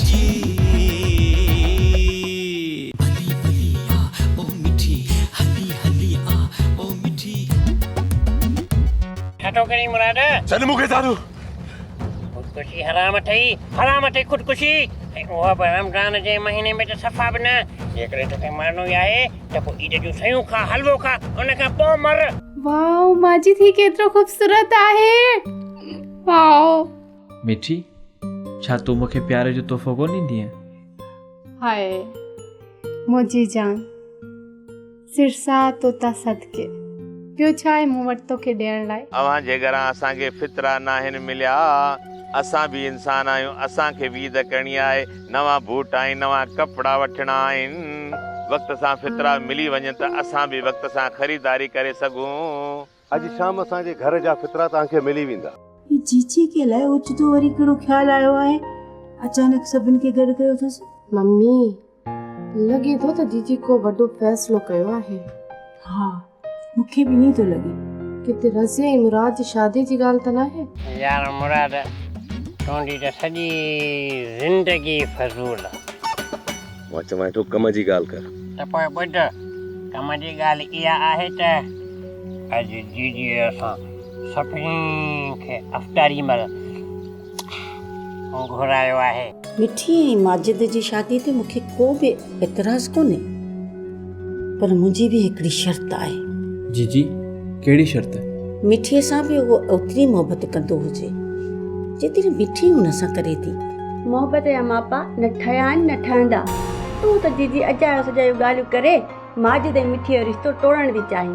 جي. ٺٽو ڪرين مراد. ڇڏ مون کي سارو. خودڪشي حرام اٿئي. حرام اٿئي خودڪشي. ۽ اها به رمضان جي مهيني ۾ ته صفا به نه. جيڪڏهن توکي مرڻو ئي آهي ته پوء عيد جون سيون کا، حلوو کا، ان کان پوء مر. واء ماجد هي ڪيترو خوبصورت آهي واء. مٺي، ڇا تون مون کي پيار جو تحفو ڪونه ڏيندينء؟ هاء منهنجي جان، سرساء توتان صدقي، ٻيو ڇا آهي مون وٽ توکي ڏيڻ لاء؟ اوهان جي گهران اسان کي فطرا ناهن مليا، اسان به انسان آهيون، اسان کي به عيد ڪرڻي آهي، نوان بوٽ ۽ نوان ڪپڙا وٺڻا آهن، وقت سان فطرا ملي وڃن ته اسان به وقت سان خريداري ڪري سگهون. اڄ شام اسان جي گهر جا فطرا توهان کي ملي ويندا. هي چيچي کي الائي اوچتو وري ڪهڙو خيال آيو آهي، اچانڪ سڀن کي گڏ ڪيو اٿس. ممي، لڳي ٿو ته جيجي ڪو وڏو فيصلو ڪيو آهي. ها، مون کي به ائين ئي ٿو لڳي. ڪٿي رضيه ۽ مراد جي شاديء جي ڳالهه ته ناهي؟ يار مراد، تنهنجي ته سڄي زندگي فضول. مان چوانء ٿو ڪم جي ڳالهه ڪر. ته پوء ٻڌ، ڪم جي ڳالهه اها آهي ته اڄ جيجي اسان سڀني کي افطاري مهل گهرايو آهي. مٺي ۽ ماجد جي شاديء تي مون کي ڪو به اعتراض ڪونهي. پر منهنجي به هڪڙي شرط آهي. جي جي ڪهڙي شرط؟ مٺيء سان به هو اوتري محبت ڪندو هجي جيتري مٺي هن سان ڪري ٿي. محبت جا ماپا نه ٺهيا آهن نه ٺهندا. تون ته جي جي اجايو سجايو ڳالهيون ڪري ماجد ۽ مٺيء جو رشتو ٽوڙڻ ٿي چاهين.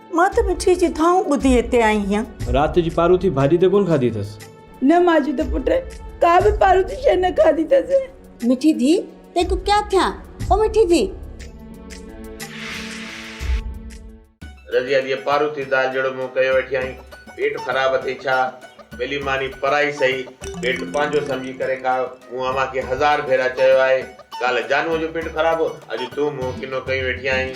مان ته مٺيء جي دانهون ٻڌي هتي آئي هيان. رات جي پاروٿي ڀاڄي ته ڪونه کاڌي اٿس. نه ماجي ته پٽ ڪا به پاروٿي شيء نه کاڌي اٿس. مٺي ڌيء تيکون ڪيا ٿيان او مٺي ڌيء. رضيه ڌيء پاروٿي دال جهڙو منهن ڪيو ويٺي آهين، پيٽ خراب اٿئي ڇا؟ ٻلي ماني پرائي سهي، پيٽ پنهنجو سمجهي ڪري کاء، مون اوهان کي هزار ڀيرا چيو آهي. ڪالهه جانوء جو پيٽ خراب هو، اڄ تون منهن ڪنو ڪيون ويٺي آهين.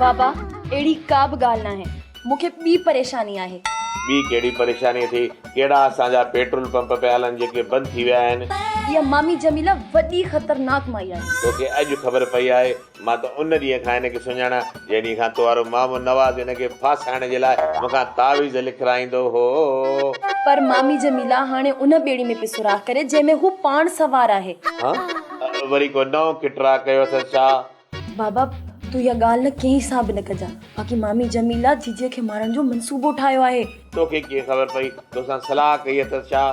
بابا، اهڙي ڪا به ڳالهه ناهي، مون کي ٻي پريشاني آهي. ٻي ڪهڙي پريشاني اٿئي؟ ڪهڙا اسان جا پيٽرول پمپ پيا هلن جيڪي بند ٿي ويا آهن؟ اها مامي جميله وڏي خطرناڪ مائي آهي. توکي اڄ خبر پئي آهي؟ مان ته ان ڏينهن کان هن کي سڃاڻان. جنهن ڏينهن کان تنهارو مامو نواز هن کي ڦاسائڻ جي لاء مون کان تعويذ لکرائيندو هو. پر مامي جميله هاڻي ان ٻيڙي ۾ پئي سوراخ ڪري، جنهن ۾ هو پاڻ سوار آهي. ها! وري ڪو نئون کٽراء ڪيو اٿس ڇا؟ بابا، تون اها ڳالهه نه ڪنهن سان به نه ڪجان. باقي مامي جميله جيجي کي مارڻ جو منصوبو ٺاهيو آهي. توکي ڪيئن خبر پئي؟ تو سان صلاح ڪئي اٿس ڇا؟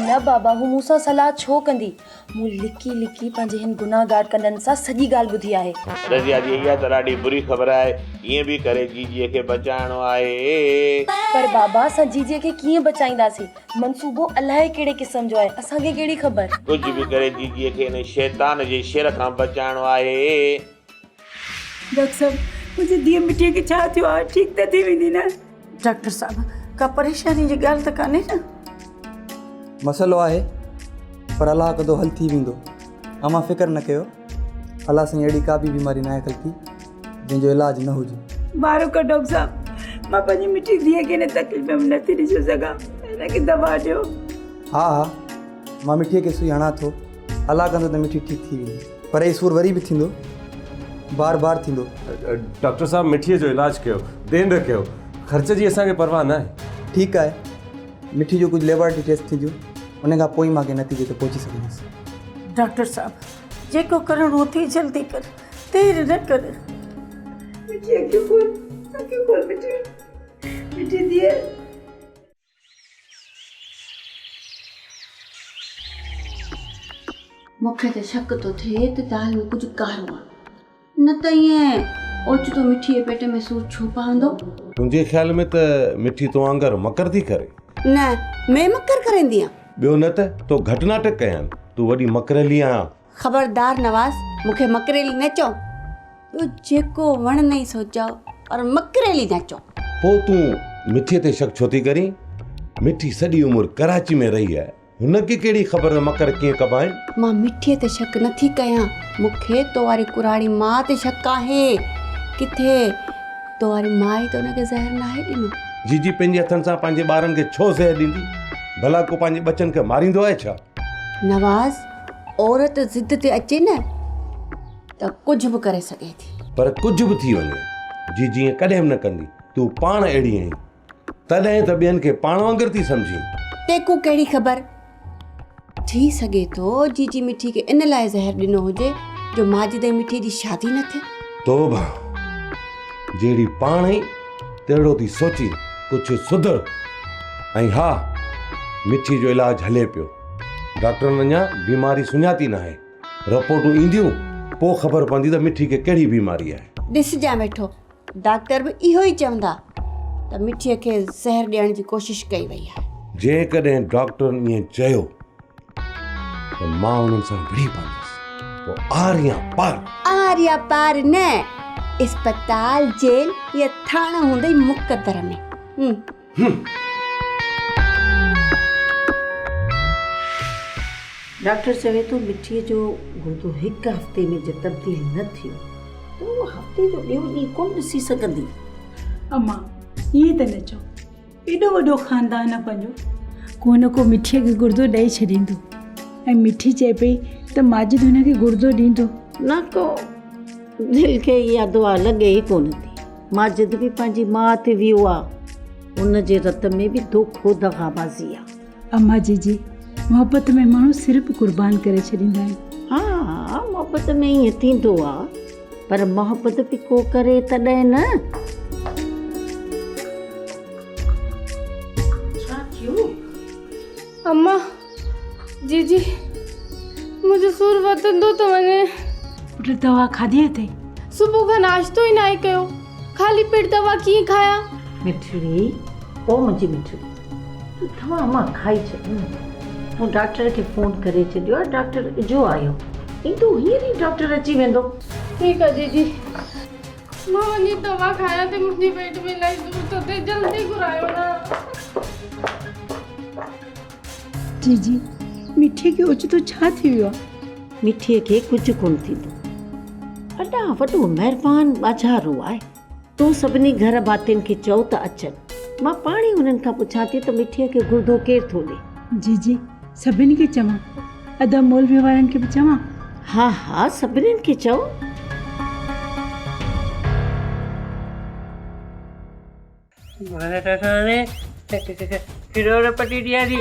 نه بابا، هو مون سان صلاح ڇو ڪندي؟ مون لڪي لڪي پنهنجي هن گنهگار ڪنن سان سڄي ڳالهه ٻڌي آهي. رضيه جي اها ته ڏاڍي بري خبر آهي. ڪيئن به ڪري جيجيء کي بچائڻو آهي. پر بابا اسان جيجيء کي ڪيئن بچائينداسين. منصوبو الاهي ڪهڙي قسم جو آهي. اسان کي ڪهڙي خبر. ڪجهه به ڪري جيجيء کي ان شيطان جي شر کان بچائڻو آهي. ڊاڪٽر صاحب منهنجي ڌيء مٺيء کي ڇا ٿيو آهي ٺيڪ ته ٿي ويندي نه. ڊاڪٽر صاحب ڪا پريشاني جي ڳالهه ته ڪانهي نه. مسئلو آهي پر الله ڪندو حل ٿي ويندو امان فڪر نه ڪيو الله سائين اهڙي ڪا به بيماري ناهي خلقي جنهن جو علاج نه هجي. بارو ڪر ڊاڪٽر صاحب مان پنهنجي مٺي ڌيء کي هن تڪليف ۾ نه ٿي ڏسي سگهان هن کي دوا ڏيو. ها ها مان مٺيء کي سوئي هڻان ٿو الله ڪندو ته مٺي ٺيڪ ٿي ويندي. پر هي سور وري به ٿيندو بار بار ٿيندو. ڊاڪٽر صاحب مٺي جو علاج ڪيو دين رکيو خرچ جي اسان کي پرواهه نه آهي. ٺيڪ آهي مٺي جو ڪجهه ليبارٽري ٽيسٽ ٿينديون ان کان پوء ئي مان ڪنهن نتيجي تي پهچي سگهندس. ڊاڪٽر صاحب جيڪو ڪرڻو اٿئي جلدي ڪر دير نه ڪر. مٺي اکيون کول اکيون کول مٺي مٺي ڌيء. مون کي ته شڪ ٿو ٿئي ته دال ۾ ڪجهه ڪارو آهي نه ته ائين اوچتو مٺي جي پيٽ ۾ سور ڇو پوندو تنهنجي خيال ۾ ته مٺي تو وانگر مڪر ٿي ڪري نه مين مڪر ڪريندي آهيان ٻيو نه ته تو گهٽ ناٽڪ ڪيا آهن تون وڏي مڪريلي آهيان خبردار نواز مون کي مڪريلي نه چئو. ٻيو جيڪو وڻ نئي سو چئو پر مڪريلي نه چئو. پوء تون مٺي تي شڪ ڇو ٿي ڪرين؟ مٺي سڄي عمر ڪراچي ۾ رهي آهي، هن کي ڪهڙي خبر ته مڪر ڪيئن ڪبا آهن؟ مان مٺي تي شڪ نه ٿي ڪيان، مون کي تو واري ڪراڙي ماء تي شڪ آهي. ڪٿي تو واري ماء ئي ته ان کي زهر ناهي ڏنو. جيجي پنهنجي هٿن سان پنهنجي ٻارن کي ڇو زهر ڏيندي؟ ڀلا ڪو پنهنجي ٻچن کي ماريندو آهي ڇا؟ نواز، عورت ضد تي اچي نه ته ڪجهه به ڪري سگهي ٿي. پر ڪجهه به ٿي وڃي، جي جيئن ڪڏهن به نه ڪندي. تون پاڻ اهڙي آهين، تڏهن ته ٻين کي پاڻ وانگر ٿي سمجهين. تيکون ڪهڙي خبر؟ ٿي سگهي ٿو جي جي مٺي کي ان لاء زهر ڏنو هجي جو ماجد ۽ مٺي جي شادي نه ٿئي. توبه! جهڙي پاڻ اهي. تهڙو ٿي سوچي ڪجهه سڌ ۽ ها مٺي جو علاج هلي پيو ڊاڪٽرن اڃا بيماري سڃاتي ناهي رپورٽون اينديون پوء خبر پوندي ته مٺي کي ڪهڙي بيماري آهي ڏسجان ويٺو ڊاڪٽر به اهو ئي چوندا ته مٺي کي زهر ڏيڻ جي ڪوشش ڪئي وئي آهي جيڪڏهن ڊاڪٽرن ائين چيو ته مان انهن سان وڙهي پوندس پوء آر يا پار آر يا پار نه اسپتال جيل يا ٿاڻو هوندئي مقدر ۾ ڊاڪٽر چوي ٿو مٺي جو گردو هڪ هفتي ۾ جي تبديل نه ٿيو ته هو هفتي جو ٻيو ڏينهن ڪونه ڏسي سگهندي امان ائين ته نه چئو ايڏو وڏو خاندان آ پنهنجو ڪو نه ڪو مٺيء کي گردو ڏئي ڇڏيندو ۽ مٺي چئي پئي ته ماجد هن کي گردو ڏيندو نه ڪو دل کي اها دعا لڳي ئي ڪو نه ٿي ماجد به پنهنجي ماء تي ويو آ ان جي رت ۾ به دوکو دغابازي آ. اما جي جي محبت ۾ ماڻهو سر به قربان ڪري ڇڏيندا آهن. ها ها محبت ۾ ائين ٿيندو آ پر محبت به ڪو ڪري تڏهن نه. ڇا ٿيو؟ اما جي جي منهنجو سور وڌندو ٿو وڃي. پٽ دوا کاڌي اٿئي؟ صبح کان ناشتو ئي ناهي ڪيو. خالي پيٽ دوا ڪيئن کايان؟ مٺڙي، او منهنجي مٺڙي، تون دوا مان کائي ڇڏ نه. مون ڊاڪٽر کي فون ڪري ڇڏيو آهي، ڊاڪٽر اجهو آيو، ايندو هينئر ئي ڊاڪٽر اچي ويندو. ٺيڪ آهي جيجي، مان وڃي دوا کايان ٿي، منهنجي پيٽ ۾ الائي سور ٿو ٿئي، جلدي گهرايو نه. جي جي مٺي کي اوچتو ڇا ٿي ويو آ. مٺي کي ڪجهه ڪونه ٿيندو ادا وڏو مهربان ٻاجهارو آهي تون سڀني گهر ڀاتين کي چئو ته اچن مان پاڻ ئي انهن کان پڇان ٿي ته مٺي کي گردو ڪير ٿو ڏي. جي جي سڀني کي چوان ادا مولوي وارن کي به چوان. ها ها سڀني کي چئو. مهارت سان ڪروڙ پٽي ڏياري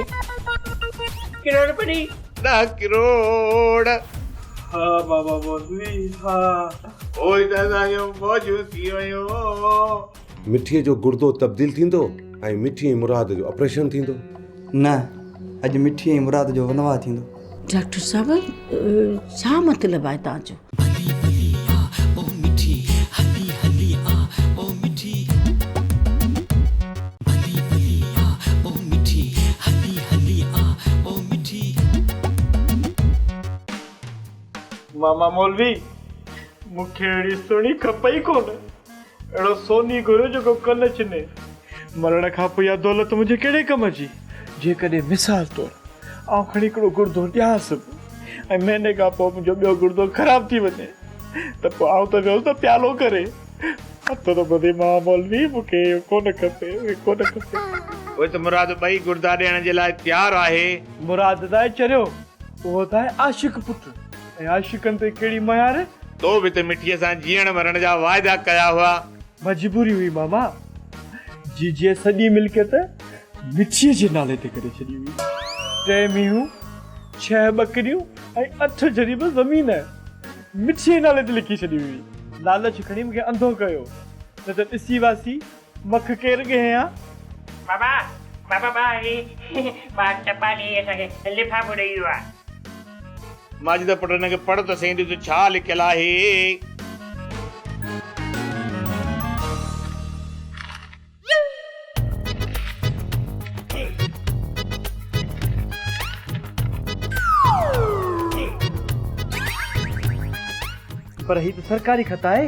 ڪروڙ پٽي ڏهه ڪروڙ. ها بابا مولوي ها. پوء ته اسان جون موجون ٿي ويون. مٺيء جو گردو تبديل ٿيندو ۽ مٺي ۽ مراد جو آپريشن ٿيندو. نه اڄ مٺي ۽ مراد جو ونواهه ٿيندو. ڊاڪٽر صاحب ڇا مطلب آهي توهان جو. هلي هلي آ او مٺي هلي هلي آ او مٺي. هلي هلي آ او مٺي هلي هلي آ او مٺي. ماما مولوي مون کي اهڙي سهڻي کپئي ڪونه. اهڙو سوني گهريو جيڪو ڪن چني. مرڻ کان پوء اها دولت منهنجي ڪهڙي ڪم جي؟ جيڪڏهن مثال طور آئون کڻي هڪڙو گڙدو ڏيانس به ۽ مهيني کان پوء منهنجو ٻيو گڙدو خراب ٿي وڃي ته پوء آئون ته ويس نه پيالو ڪري. اٿو ته ٻڌي مان مولوي مون کي اهو ڪونه کپي اهو ڪونه کپي. پوء ته مراد ٻئي گڙدا ڏيڻ جي لاء تيار آهي. مراد ته آهي چريو اهو ته آهي عاشق پٽ. ۽ عاشقن تي ڪهڙي مهر. تو به ته مٺيء سان جيئڻ مرڻ جا واعدا ڪيا هئا. مجبوري هئي ماما، جيجيء سڄي ملڪيت مٺيء جي نالي تي ڪري ڇڏي هئي. ٽي مينهون، ڇهه ٻڪريون ۽ اٺ جريب زمين مٺيء جي نالي تي لکي ڇڏي هئي. لالچ کڻي مون کي انڌو ڪيو، نه ته ڏسي واسي مک ڪير ڳهين ها؟ بابا بابا با هي با چپا ڏيئي اسان کي لفافو ڏيئي ويو آ. ماجده پٽ هن کي پڙهه ته سهي ڏس ڇا لکيل آهي. پر هي ته سرڪاري خط آهي.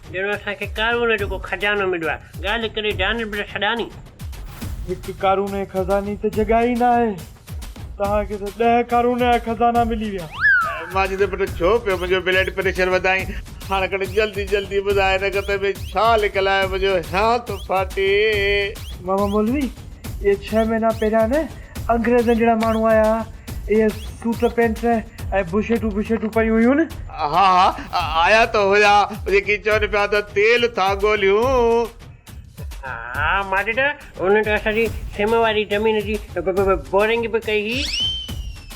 ڄڻ اسان کي قارون جو ڪو خزانو مليو آهي. ڳالهه ڪري جانب الشڏاني. هڪ قارون جي خزاني ته جڳهه ئي ناهي. توهان کي ته ڏهه قارون جا خزانا ملي ويا. ماجد پٽ ڇو پيو منهنجو بلڊ پريشر وڌائين. هاڻڪڙ جلدي جلدي ٻڌاء هن گتي ۾ ڇا لڪل آهي منهنجو هيانت ڦاٽي. ماما مولوي اهي ڇهه مهينا پهريان نه انگريزن جهڙا ماڻهو آيا ها، اهي سوٽ پينٽ ۽ بشيٽون بشيٽون پيون هيون. ها ها آيا ته هيا جيڪي چون پيا ته تيل ٿا ڳوليون. ها ماڊٽ انهن ته اسان جي سم واري زمين جي بورنگ به ڪئي هئي.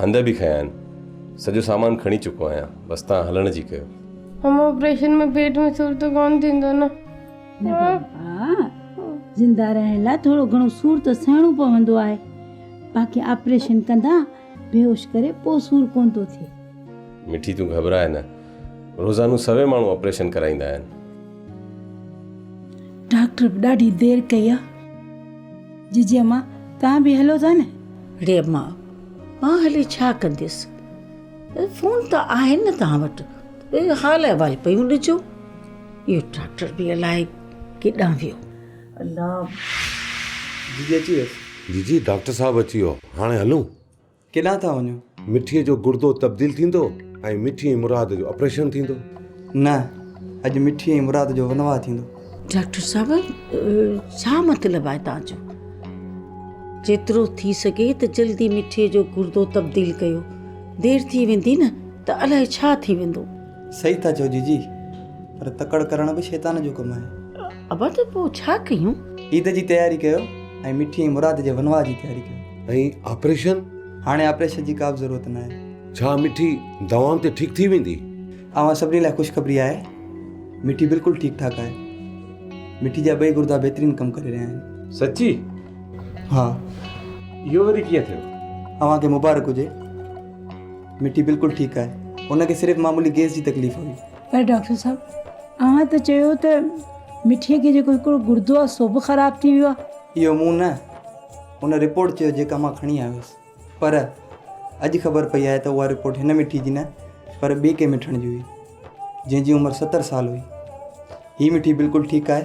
هنڌ به کنيا آهن. سڄو سامان کڻي چڪو آهيان. بس توهان هلڻ جي ڪيو. هم آپريشن ۾ پيٽ ۾ سور ته ڪونه ٿيندو نه؟ نه بابا، زنده رهڻ لاء ٿورو گهڻو سور ته سهڻو پوندو آهي. باقي آپريشن ڪندا بيهوش ڪري پوء سور ڪونه ٿو ٿئي. مٺي تون گهٻراء نه. روزانو سوين ماڻهو آپريشن ڪرائيندا آهن. ڊاڪٽر به ڏاڍي دير ڪئي آهي. ججي امان توهان به هلو ٿا نه. اڙي امان مان هلي ڇا ڪنديس؟ فون ته آهن نه توهان وٽ، حال احوال پيون ڏجو. اهو ڊاڪٽر به الائي ڪيڏانهن ويو. الله! جيجي اچي ويس. جيجي ڊاڪٽر صاحب اچي ويو، هاڻي هلون؟ ڪيڏانهن ٿا وڃو؟ مٺيء جو گردو تبديل ٿيندو ۽ مٺي ۽ مراد جو آپريشن ٿيندو. نه، اڄ مٺيء ۽ مراد جو ونواهه ٿيندو. ڊاڪٽر صاحب ڇا مطلب آهي توهان جو؟ جيترو ٿي سگهي ته جلدي مٺي جو گردو تبديل ڪيو. دير ٿي ويندي نه ته الائي ڇا ٿي ويندو. صحيح ٿا چئو جيجي پر تڪڙ ڪرڻ به شيطان جو ڪم آهي. ابا ته پوء ڇا ڪيون؟ عيد جي تياري ڪيو ۽ مٺي ۽ مراد جي ونواهه جي تياري ڪيو. ۽ آپريشن؟ هاڻي آپريشن جي ڪا به ضرورت ناهي. ڇا مٺي دوائن تي ٺيڪ ٿي ويندي؟ اوهان سڀني لاء خوشخبري آهي مٺي بلڪل ٺيڪ ٺاڪ آهي مٺي جا ٻئي گردا بهترين ڪم ڪري رهيا آهن سچي ها اهو وري ڪيئن ٿيو اوهان کي مبارڪ هجي مٺي بلڪل ٺيڪ آهي ان کي صرف معمولي گيس جي تڪليف هئي پر ڊاڪٽر صاحب اوهان ته چيو ته مٺي کي جيڪو هڪڙو گردو آهي سو به خراب ٿي ويو آهي اهو مون نه ان رپورٽ چيو جيڪا مان کڻي آيو هوس پر اڄ خبر پئي آهي ته اها رپورٽ هن مٺي جي نه پر ٻئي ڪنهن مٺڻ جي هئي جنهن جي عمر ستر سال هئي هي مٺي بلڪل ٺيڪ آهي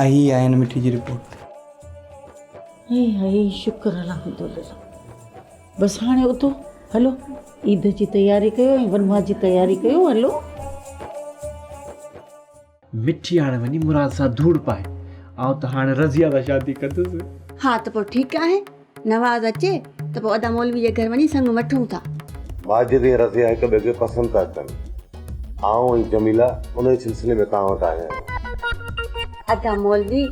۽ هي آهي هن مٺي جي رپورٽ هي هي شڪر الحمدلله بس هاڻي اٿو هلو عيد جي تياري ڪيو ۽ ونواهه جي تياري ڪيو هلو مٺي هاڻي وڃي مراد سان ڌوڙ پائي. آئون ته هاڻي رضيه سان شادي ڪندس. ها ته پوء ٺيڪ آهي. نواز اچي ته پوء ادا مولوي جي گهر وڃي سڱ وٺون ٿا. ماجد ۽ رضيه هڪ ٻئي کي پسند ٿا ڪن. آئون ۽ جميله انهيء سلسلي ۾ توهان وٽ آيا آهيون. ادا مولوي،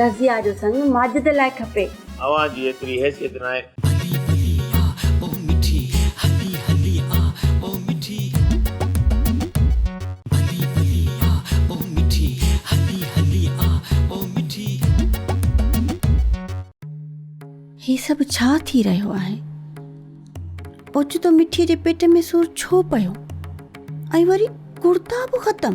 رضيه جو سڱ ماجد لاء کپي. اوهان جي ايتري حيثيت ناهي. علي علي آ او مٺي هلي هلي آ او مٺي. علي علي آ او مٺي هلي هلي آ او مٺي. هي سڀ ڇا ٿي رهيو آهي؟ اوچتو مٺيء جي پيٽ ۾ سور ڇو پيو ۽ وري ڪڙتا به ختم؟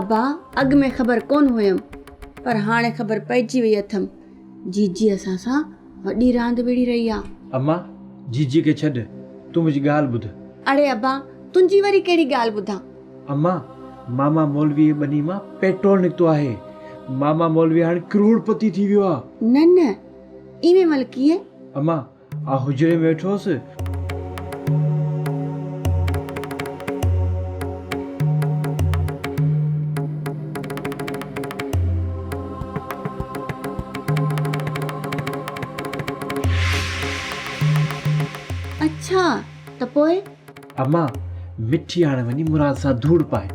ابا اڳ ۾ خبر ڪون هيم پر هاڻي خبر پئجي وئي اٿم جيجي اسان سان وڏي راند وڙهي رهي آ. اما جيجي کي ڇڏ تون منهنجي ڳالهه ٻڌ. اڙي ابا تنهنجي وري ڪهڙي ڳالهه ٻڌان. اما ماما مولويء جي ٻني مان پيٽرول نڪتو آهي ماما مولوي هاڻي ڪروڙ پتي ٿي ويو آ. نه نه ايوين ملڪيه. اما آء حجري ۾ ويٺو هوس. اڇا ته پوء؟ اما مٺي هاڻ وڃي مراد سان ڌوڙ پائي.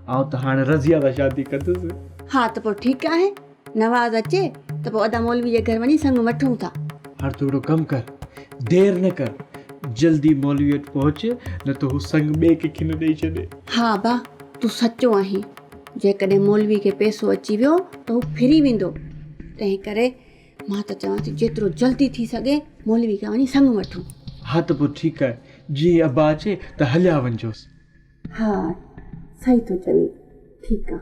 آء ته هاڻ رضيه سان شادي ڪندس. ها ته پوء ٺيڪ آهي. نواز اچي ته پوء ادا مولوي جي گهر وڃي سڱ وٺون ٿا. هاڻ تون هڪڙو ڪم ڪر، دير نه ڪر، جلدي مولوي وٽ پهچ، نه ته هو سڱ ٻئي ڪنهن کي نه ڏئي ڇڏي. ها ابا، تون سچو آهين، جيڪڏهن مولوي کي پئسو اچي ويو ته هو ڦري ويندو، تنهن ڪري مان ته چوان ٿي جيترو جلدي ٿي سگهي مولوي کان وڃي سڱ وٺون. ها ته پوء ٺيڪ آهي، جيئن ئي ابا اچي ته هليا وڃجوس. ها، صحيح ٿو چوين، ٺيڪ آهي،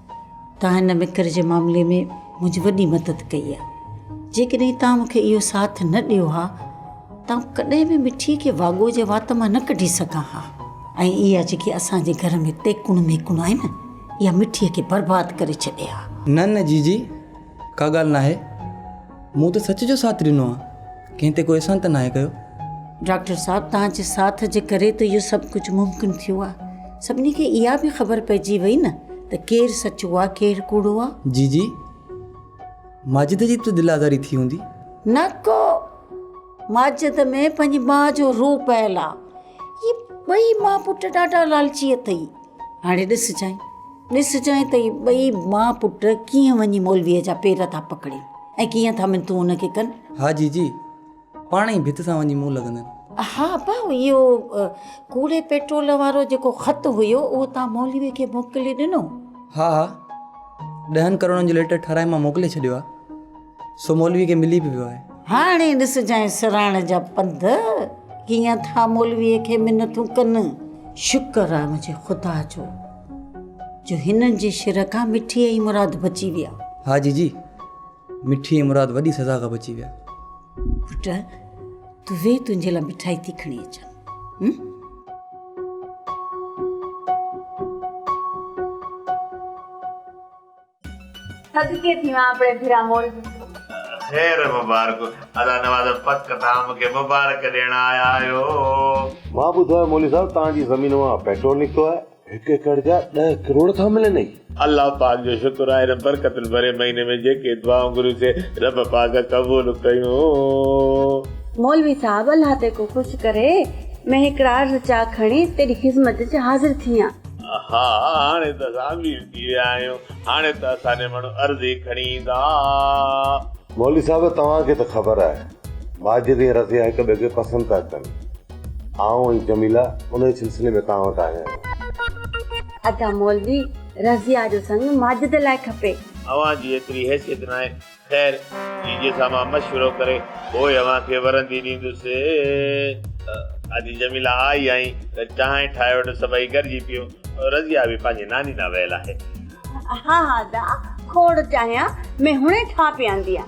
توهان هن مکر جي معاملي ۾ منهنجي وڏي مدد ڪئي آهي. جيڪڏهن توهان مون کي اهو ساٿ نه ڏيو ها ته آئون ڪڏهن به مٺيء کي واڳو جي وات مان نه ڪڍي سگهان ها ۽ اها جيڪي اسان جي گهر ۾ تيڪون ميڪون آهي نه اها مٺيء کي برباد ڪري ڇڏي ها. نه نه جيجي. ڪا ڳالهه ناهي، مون ته سچ جو ساٿ ڏنو آهي، ڪنهن تي ڪو احسان ته ناهي ڪيو. ڊاڪٽر صاحب توهان جي ساٿ جي ڪري ته اهو سڀ ڪجهه ممڪن ٿيو آهي، سڀني کي اها به خبر پئجي وئي نه ته ڪير سچو آهي ڪير ڪوڙو آهي. جي جي ماجد جي به ته دل آزاري ٿي هوندي. نه ڪو ماجد ۾ پنهنجي ماء جو روح پيل آهي، هي ٻئي ماء پٽ ڏاڍا لالچي اٿئي. هاڻي ڏسجانء ڏسجانء ته اهي ٻئي ماء پٽ ڪيئن وڃي مولويء جا پير ٿا پڪڙين ۽ ڪيئن ٿا منٿون ان کي ڪن. ها جي جي، پاڻ ئي ڀت سان وڃي منهن لڳندن. ها ابا، اهو ڪوڙي پيٽرول وارو جيڪو خط هيو، اهو توهان مولويء کي موڪلي ڏنو؟ ها ها، ڏهن ڪروڙن جو ليٽر ٺاهرائي مان موڪلي ڇڏيو آهي. سو مولوي کي ملي به ويو آهي. هاڻي ڏسجانء سراڻ جا پنڌ، ڪيئن ٿا مولويء کي منٿون ڪن. شڪر آهي منهنجي خدا جو، جو هنن جي شر کان مٺي ۽ مراد بچي ويا. ها جي جي، مٺي ۽ مراد وڏي سزا کان بچي ويا. پٽ، تون ويهه تنهنجي لاء مٺائي ٿي کڻي اچان. صدقي ٿيوان اپڙي ڀيرا موري. خير مبارڪ ادا نواز پڪ تان مون کي مبارڪ ڏيڻ آيا آهيو. مان ٻڌو آهي مولوي صاحب توهان جي زمين مان پيٽرول نڪتو آهي. هڪ ايڪڙ جا ڏهه ڪروڙ ٿا ملن ۽. الله پاڪ جو شڪر آهي هن برڪتن ڀرئي مهيني ۾ جيڪي دعائون گهريون سي رب پاڪ قبول ڪيون. مولوي صاحب الله تي ڪو خوش ڪري مين هڪڙا عرض چا کڻي تيڏي خذمت چ حاضر ٿيان. ها هاڻي ته اسان امير ٿي ويا آهيون هاڻي ته اسان جا ماڻهو عرضي کڻي ايندا. مولوي صاحب توهان کي ته خبر آهي مهاجر ۽ رضيا هڪ ٻئي کي پسند ٿا ڪن آئون ۽ جميله انهي سلسلي ۾ توهان وٽ آيا آهيون. ادا مولوي رضيا جو سڱ ماجد لاء کپي. اوهان جي ايتري حيثيت ناهي خير، جي جي سان مان مشورو ڪري پوء اوهان کي ورندي ڏيندس. آڌي جميله آئي ۽ چانهه ٺاهي وٽس سڀئي گڏجي پيئون. رضيه به پنهنجي ناني ڏانهن ويل آهي. ها ها دا کوڙ چانهه ۾ هڻي ٺاهه پيئاندينء.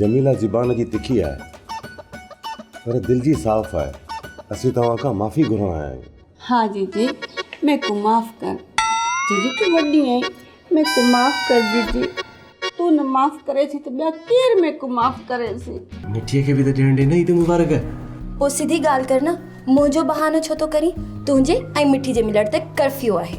جميله زبان جي تکي آهي پر دل جي صاف آهي اسين توهان کان معافي گهرڻ آيا آهيون. ها جيجي ميڪون معاف ڪر. جيجي تون وڏي آهين ميڪون معاف ڪر جيجي تون نه معاف ڪري ٿي ته ٻيا ڪير ميڪون معاف ڪري سي. مٺيء کي به ته ڏيڻ ڏي نه عيد مبارڪ. پوء سڌي ڳالهه ڪر نه منهنجو بهانو ڇو ٿو ڪرين تنهنجي ۽ مٺي جي ملڻ تي ڪرفيو آهي.